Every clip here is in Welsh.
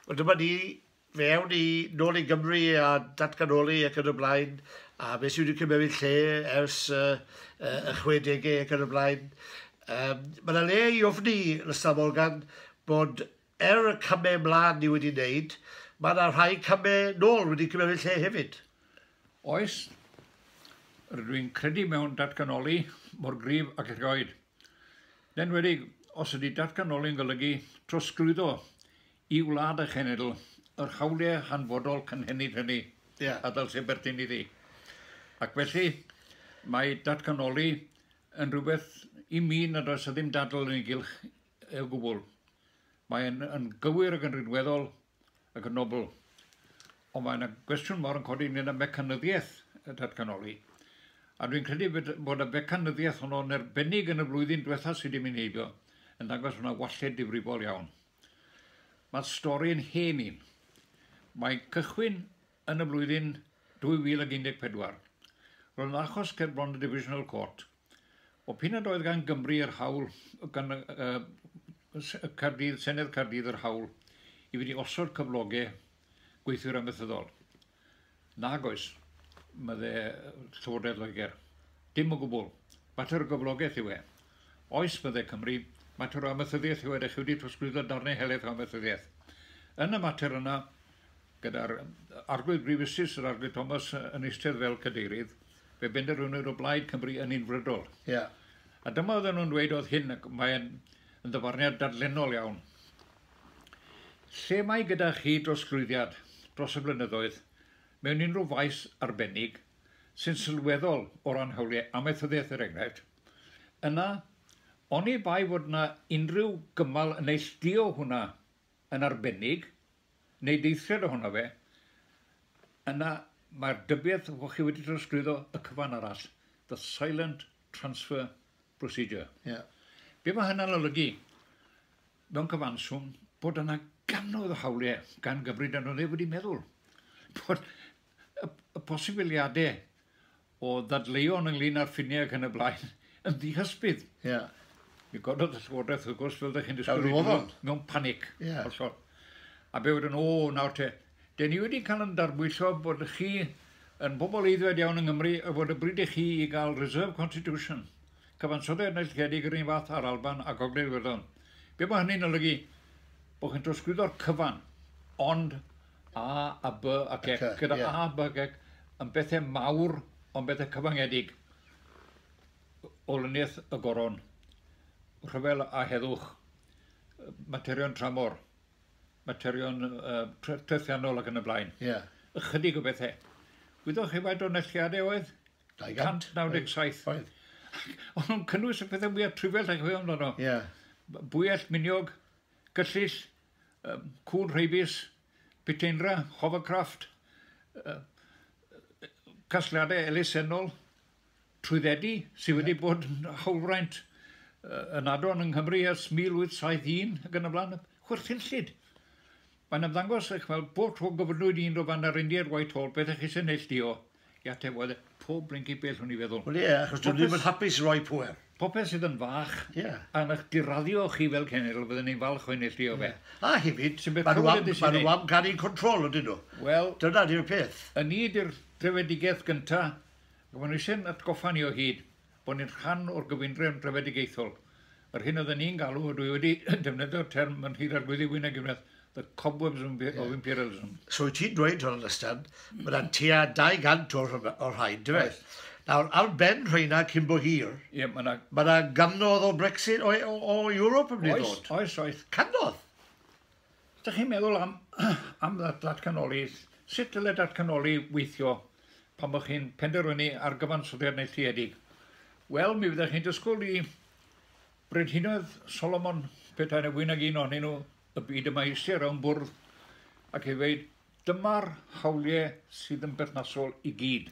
Wel dyma ni, fe awn i nôl i Gymru a datganoli ac yn y blaen, a fe sydd wedi cymryd lle ers y, y 60au ac yn y blaen. Um, mae yna le i ofni, Lysa Morgan, bod er y camau ymlaen ni wedi wneud, mae yna rhai camau nôl wedi cymryd lle hefyd. Oes, rydw i'n credu mewn datganoli mor gryf ac erioed. Yn enwedig os ydy datganoli'n golygu trosglwyddo i wlad y cenedl yr hawliau hanfodol cynhenid hynny a ddylsai berthyn iddi. Ac felly, mae datganoli yn rhywbeth i mi nad oes â ddim dadl yn ei gylch o gwbl. Mae'n gywir ac yn rinweddol. ac yn nobl. Ond mae yna gwestiwn mor yn codi ynglyn â mecanyddiaeth y datganoli. A dwi'n credu bod y mecanyddiaeth honno yn erbennig yn y flwyddyn diwetha sydd wedi mynd heibio yn dangos bod yna walled difrifol iawn. Mae'r stori yn hen un. Mae'n cychwyn yn y flwyddyn 2014. Roedd yn achos cerbron y Divisional Court. O p'un nad oedd gan Gymru yr hawl, gan Caerdydd, Senedd Caerdydd yr hawl i fynd i osod cyfloge gweithwyr amaethyddol. Nag oes, mydde Llywodraeth Loegr. Dim o gwbl. Mater o gyflogaeth yw e. Oes, mydde Cymru, mater o amaethyddiaeth yw e, dych chi wedi trosglwyddo darnau helaeth o amaethyddiaeth. Yn y mater yna, gyda'r Arglwydd Brif Justice, yr Arglwydd Thomas, yn eistedd fel cadeirydd, Fe benderfynwyd o blaid Cymru yn unfrydol. Ia. A dyma oedden nhw'n dweud oedd hyn, ac mae'n yn ddyfarniad dadlennol iawn. Lle mae gyda chi drosglwyddiad dros y blynyddoedd mewn unrhyw faes arbennig sy'n sylweddol o ran hawliau amaethyddiaeth er enghraifft, yna oni bai fod yna unrhyw gymal yn neillduo hwnna yn arbennig, neu deithriad ohono fe, yna mae'r dybiaeth fod chi wedi trosglwyddo y cyfan arall, the silent transfer procedure. Yeah. Be mae hynna'n olygu? Mewn cyfanswm, bod yna ganoedd o hawliau gan gyfrif dan oedd e wedi meddwl bod y, y posibiliadau o ddadleuon ynglyn â'r ffiniau ac yn y blaen, yn ddihysbydd. Ie. Mi gododd y Llywodraeth, wrth gwrs, fel ydych chi'n disgwyl... Fel roddon. ...mewn panic. Ie. Hollol. A be wedyn, o, nawr te, de ni wedi cael yn darbwyllo bod chi yn bobl eiddfed iawn yng Nghymru a bod y bryd i chi i gael reserve constitution, cyfansoddiad neilltuedig yr un fath â'r Alban a Gogledd Iwerddon. Be mae hynny'n olygu? Bod chi'n trosglwyddo'r cyfan, ond A, a, by, a, gec, gyda a, by, gec, yn bethau mawr, ond bethau cyfangedig. Olyniaeth y goron, rhyfel a heddwch, materion tramor, materion uh, trethiannol ac yn y blaen. Yeah. Ychydig o bethau. Wyddoch chi faint o nelliadau oedd? 297. Oedd. Ond nhw'n cynnwys y pethau mwyaf trifell a chyfeiriad amdano. Ie. Yeah. Bwyell, miniog, gyllill, Cŵn Rheibus, Piteinra, Hovercraft, casgliadau elusennol trwyddedu sydd wedi bod yn hawlfraint yn adron yng Nghymru ers 1871 ac yn y blaen, chwerthinllyd. Mae'n ymddangos eich fel bob tro gofynnwyd un o fan yr Indiaid Whitehall beth eich eisiau neillduo. I ateb, wel, pob blinky bell o'n i feddwl. Wel ie, achos dwi'n ddim yn hapus roi pwer. Popeth sydd yn fach, yeah. a ych diraddio chi fel cenedl, byddwn ni'n falch o'n eich o fe. Yeah. A hefyd, mae nhw am, ma nhw am gael ein control ydyn nhw. Wel, dyna di'r peth. Yn ni ydy'r trefedigaeth gyntaf, ac maen nhw eisiau'n atgoffa ni o hyd. bod ni'n rhan o'r gyfundrefn drefedigaethol, yr hyn oedden ni'n galw, a dwi wedi defnyddio'r term yn Nhŷ'r Arglwyddi Wyn a Gwynedd, the cobwebs of impe- of imperialism. So wyt ti'n dweud, John Lystan, bod yna tua 200 o'r rhyf- o'r rhain, dy fe? Oes. Nawr, ar ben rheina cyn bo hir, Ie, mae yna... mae yna gannoedd o Brexit, o, o, o Ewrop yn mynd i Oes, ddod. oes, oes. Cannoedd! Os ydych chi'n meddwl am, am ddatganoli, sut dylai datganoli weithio pan bod chi'n penderfynu ar gyfansoddiad neilltuedig? Wel, mi fyddech chi'n dysgwyl i Brenhinoedd Solomon, pethau na fwy nag un ohonyn nhw, y byd yma eisiau o'n bwrdd, ac i ddweud, dyma'r hawliau sydd yn berthnasol i gyd.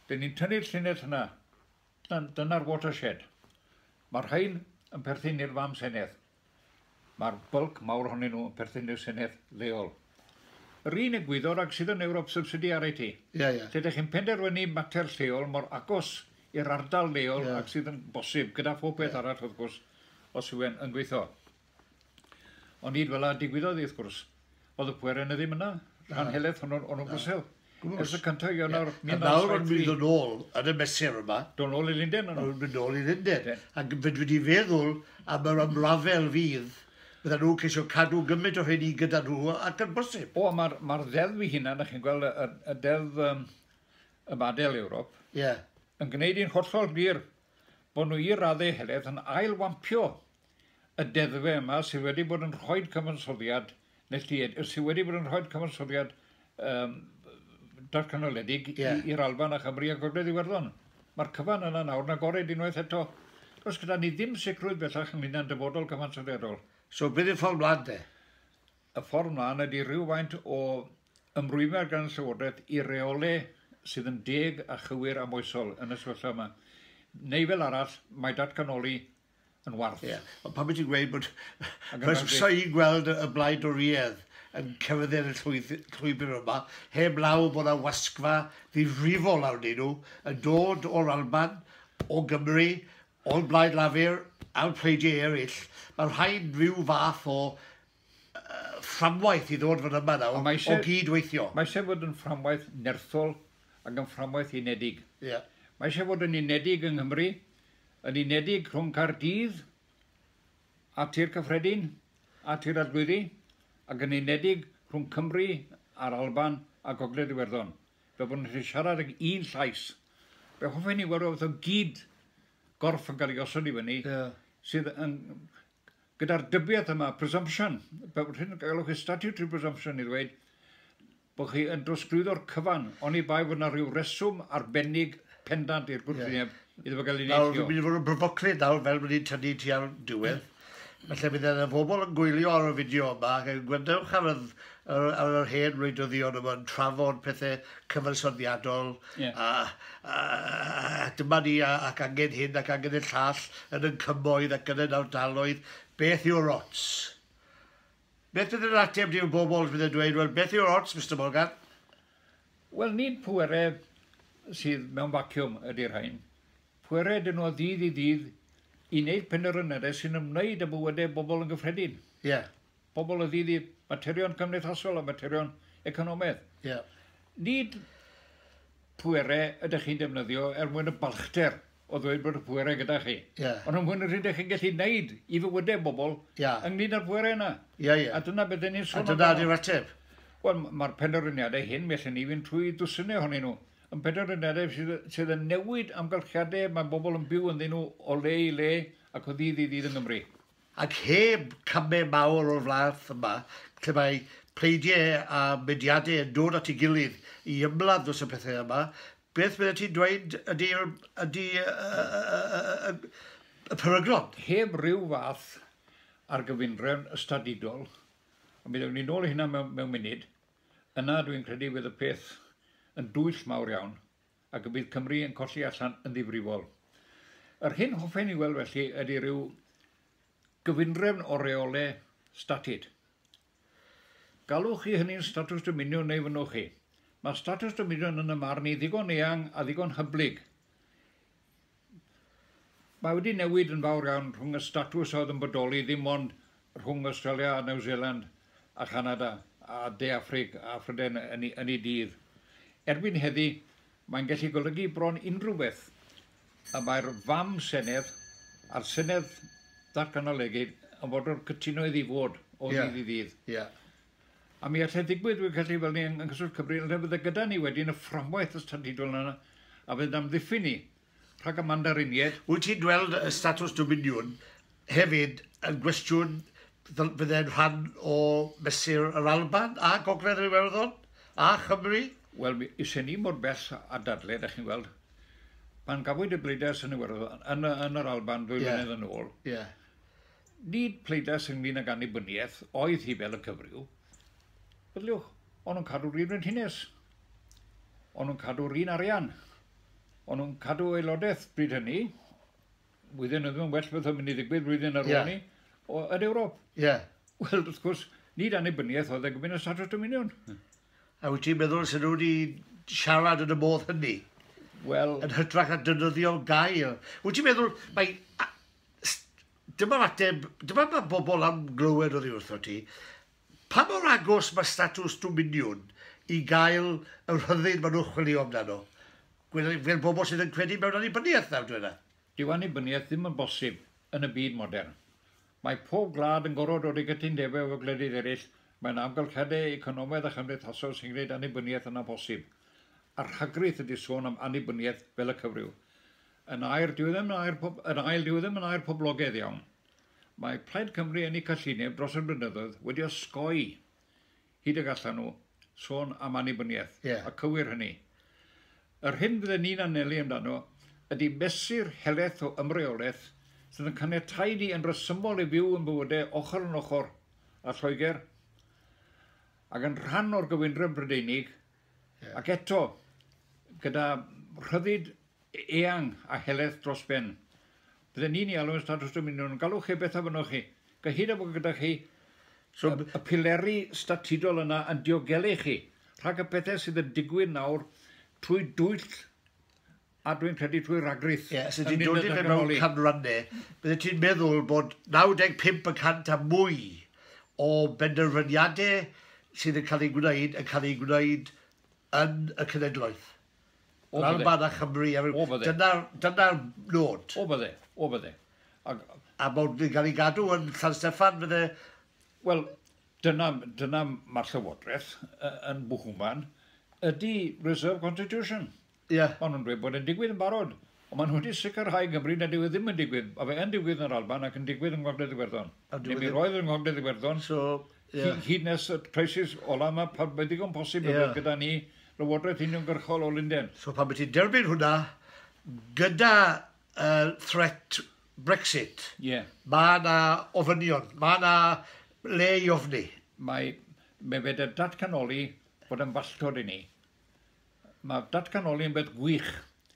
Dyn ni'n tynnu'r llinell yna, dyna'r watershed. Mae'r rhain yn perthyn i'r fam senedd. Mae'r bylc mawr ohonyn nhw yn perthyn i'r Senedd leol. Yr un egwyddor ag sydd yn Ewrop subsidy ar IT. Ie, ie. Lle dych chi'n penderfynu mater lleol mor agos i'r ardal leol yeah. ag sydd yn bosib, gyda phob peth yeah. arall wrth gwrs, os yw e'n yn gweithio. Ond nid fel a digwyddodd i wrth gwrs. Oedd y pwerau yna ddim yna. Rhan heledd hwnnw, o'n nhw'n gwsel. Gwrs. y cyntaf Ionawr 1973. A nawr o'n mynd yn ôl yn y mesur yma. Do'n ôl i Linden o'n nhw'n mynd ôl i Linden. Ac fyd wedi feddwl am yr ymrafel fydd. Bydda nhw'n ceisio cadw gymaint o rheini gyda nhw ac yn bosib. O, mae'r ma ddeddf fy hunan, ych chi'n gweld y, y deddf um, y badel Ewrop, yeah. yn gwneud i'n hollol glir bod nhw i raddau heledd yn ailwampio y deddfau yma sydd wedi bod yn rhoid cyfansoddiad neilltued, sydd wedi bod yn rhoid cyfansoddiad um, darcanoledig yeah. i'r Alban a Chymru a Gogledd Iwerddon. Mae'r cyfan yna nawr yn agored unwaith eto. Does gyda ni ddim sicrwydd bellach ynglyn â'n dyfodol cyfansoddiadol. So, bydd y ffordd mlaen de? Y ffordd mlaen ydy rhywfaint o ymrwymiad gan y Llywodraeth i reole sydd yn deg a chywir a moesol yn y sefyllfa yma. Neu fel arall, mae datganoli yn warth. Ie, ond pan wyt ti'n gweud bod... Croeso i gweld y Blaid Dorïedd yn cefndir y llwybr yma, heb law bod yna wasgfa ddifrifol arnyn nhw yn dod o'r Alban, o Gymru, o'r Blaid Lafur a'r pleidiau eraill. Mae rhaid rhyw fath o fframwaith i ddod fan yma nawr, o gyd-weithio. Mae eisiau fod yn fframwaith nerthol ac yn fframwaith unedig. Mae eisiau fod yn unedig yng Nghymru, yn unedig rhwng Caerdydd a Thir Cyffredin a Thir Arglwyddi ac yn unedig rhwng Cymru a'r Alban a Gogledd Iwerddon, fel bod nhw'n gallu siarad ag un llais. Be hoffen ni weld oedd o gyd gorff yn cael ei osod i fyny, yeah. sydd yn gyda'r dybiaeth yma, presumption, rhywun yn galwch chi statutory presumption i ddweud, bod chi yn drosglwyddo'r cyfan, oni bai fod yna rhyw reswm arbennig pendant i'r gwrthwyneb yeah. iddo fo gael ei neithio. Nawr, dwi'n mynd i fod yn brofoclyd nawr, fel bod ni'n tynnu ti ar diwedd. Felly bydd yna bobl yn gwylio ar y fideo yma ac yn gwendewch ar, yr, ar, ar yr hen wleidyddion yma'n trafod pethau cyfansoddiadol yeah. a, a, a, dyma ni ac angen hyn ac angen y llall yn y cymoedd ac yn y nawdaloedd. Beth yw'r ots? Beth fydd yr ateb di'r bobl fydd yn dweud, wel beth yw'r ots Mister Morgan? Wel nid pwerau sydd mewn vacuum ydy'r rhain. Pwerau ydyn nhw o ddydd i ddydd i wneud penderfynydau sy'n ymwneud â bywydau bobl yn gyffredin. Yeah. Pobl o ddydd i materion cymdeithasol a materion economaidd. Yeah. Nid pwerau ydych chi'n defnyddio er mwyn y balchder o ddweud bod y pwerau gyda chi. Yeah. Ond yn fwy na sydd ydych chi'n gallu gwneud i fywydau bobl yeah. ynglyn â'r pwerau yna. Yeah, yeah. A dyna beth ni'n sôn amdano. A dyna di'r ateb. Wel, mae'r penderfyniadau hyn, mi allan ni fynd trwy dwsinau ohonyn nhw, yn penderfyniadau sydd, sydd yn newid amgylchiadau mae bobl yn byw ynddyn nhw o le i le ac o ddydd i ddydd yng Nghymru. Ac heb camau mawr o'r flath yma, lle mae pleidiau a mediadau yn dod at ei gilydd i ymladd dros y pethau yma, Beth byddet ti'n dweud ydy ydy y peryglon? Heb ryw fath ar gyfundrefn ystadudol, ond mi ddewni nôl i hynna mewn mewn munud, yna dwi'n credu fydd y peth yn dwyll mawr iawn ac y bydd Cymru yn colli allan yn ddifrifol. Yr hyn hoffen i weld felly ydy ryw gyfundrefn o reole statud. Galwch chi hynny'n statws dominiwn neu fynnwch chi? Mae statws dominiwn yn y marn i ddigon eang a ddigon hyblyg. Mae wedi newid yn fawr iawn rhwng y statws oedd yn bodoli ddim ond rhwng Australia a New Zealand a Chanada a De Affrig a Phrydain yn ei dydd. Erbyn heddi, mae'n gallu golygu bron unrhyw beth. y mae'r fam Senedd a'r Senedd Datganoledig yn fodlon cytuno iddi fod o yeah. ddydd i ddydd. Yeah. A mi allai ddigwydd, fi'n credu, fel ni yng Nghyswllt Cymru, yn rhywbeth gyda ni wedyn y fframwaith y statudol yna, a fydd amddiffyn ni rhag y mandariniaid. Wyt ti'n dweld y status dominiwn Hefyd, yn gwestiwn, fydd e'n rhan o Mesur yr Alban a Gogledd yr Iwerddon a Chymru? Wel, is hynny i mor bell â dadle, dach chi'n gweld. Pan gafwyd y bleidlais yn Iwerddon, yn, yn yr Alban ddwy yeah. flynedd yn ôl, yeah. nid pleidlais ynglyn ag annibyniaeth oedd hi fel y cyfryw, Bydliwch, o'n nhw'n cadw'r un frenhines. O'n nhw'n cadw'r un arian. O'n nhw'n cadw aelodaeth bryd hynny. Flwyddyn oedd yn well beth oedd mynd i ddigwydd flwyddyn ar ôl ni, yn Ewrop. Ie. Wel, wrth gwrs, nid annibyniaeth oedd e gofyn y Statws Dominion. A wyt ti'n meddwl sy'n nhw wedi siarad yn y modd hynny? Wel... Yn hytrach na dynyddio gael. Wyt ti'n meddwl, mae... Dyma'r ateb, dyma mae bobl am glywed o ddiwrtho ti. Pa mor agos mae statws Dominiwn i gael y rhyddid maen nhw'n chwilio amdano? Gwelai fel bobl sydd yn credu mewn annibyniaeth, nawr dweda. Dyw annibyniaeth ddim yn bosib yn y byd modern. Mae pob gwlad yn gorfod dod i gytundebau efo gwledydd eraill, mae yna amgylchiadau economaidd a chymdeithasol sy'n gwneud annibyniaeth yn amhosib. A rhagrith ydy sôn am annibyniaeth fel y cyfryw. Yn air, dyw e ddim yn air pob, yn ail, dyw e ddim yn air poblogaidd iawn. Mae Plaid Cymru yn eu cyllineb dros y blynyddoedd wedi osgoi, hyd y gallan nhw, sôn am annibyniaeth, yeah. a cywir hynny. Yr hyn fydden ni'n anelu amdano ydy mesur helaeth o ymreolaeth sydd yn caniatáu ni yn resymol i fyw yn bywydau ochr yn ochr a Lloegr ac yn rhan o'r gyfundrefn Brydeinig yeah. ac eto gyda rhyddid eang a helaeth dros ben. Bydden ni'n ei alw yn statws dominiwn, yn galw chi beth a fynnoch chi, gyhyd â bod gyda chi y pileri statudol yna yn diogelu chi rhag y pethau sydd yn digwydd nawr trwy dwyll a dwi'n credu trwy ragrith. Ie, os ydy'n dod i fe mewn canrannau, bydde ti'n meddwl bod 95 y cant a mwy o benderfyniadau sydd yn cael ei gwneud yn cael ei gwneud yn y cenedlaeth. O'r bydde. Lawr man Chymru a rhyw... O'r bydde. Dyna'r, dyna'r nod. O'r bydde, o'r bydde. Ag... A mae'n cael ei gadw yn San Steffan fydde? Wel, dyna, dyna mae'r Llywodraeth yn bwhwman, ydy Reserve Constitution. Ie. Maen nhw'n dweud bod e'n digwydd yn barod. Ond maen nhw wedi sicrhau yng Nghymru nad yw e ddim yn digwydd. Mae fe yn digwydd yn yr Alban ac yn digwydd yng Ngogledd Iwerddon, neu mi roedd yn Ngogledd Iwerddon, hyd nes y crisis ola' yma, pan mae'n ddigon posib y bydd gyda ni Lywodraeth uniongyrchol o Lunden. So pan wyt ti'n derbyn hwnna, gyda threat Brexit, mae yna ofynion, mae yna le i ofni. Mae fe wedi datganoli bod e'n falltod i ni. Mae datganoli yn beth gwych,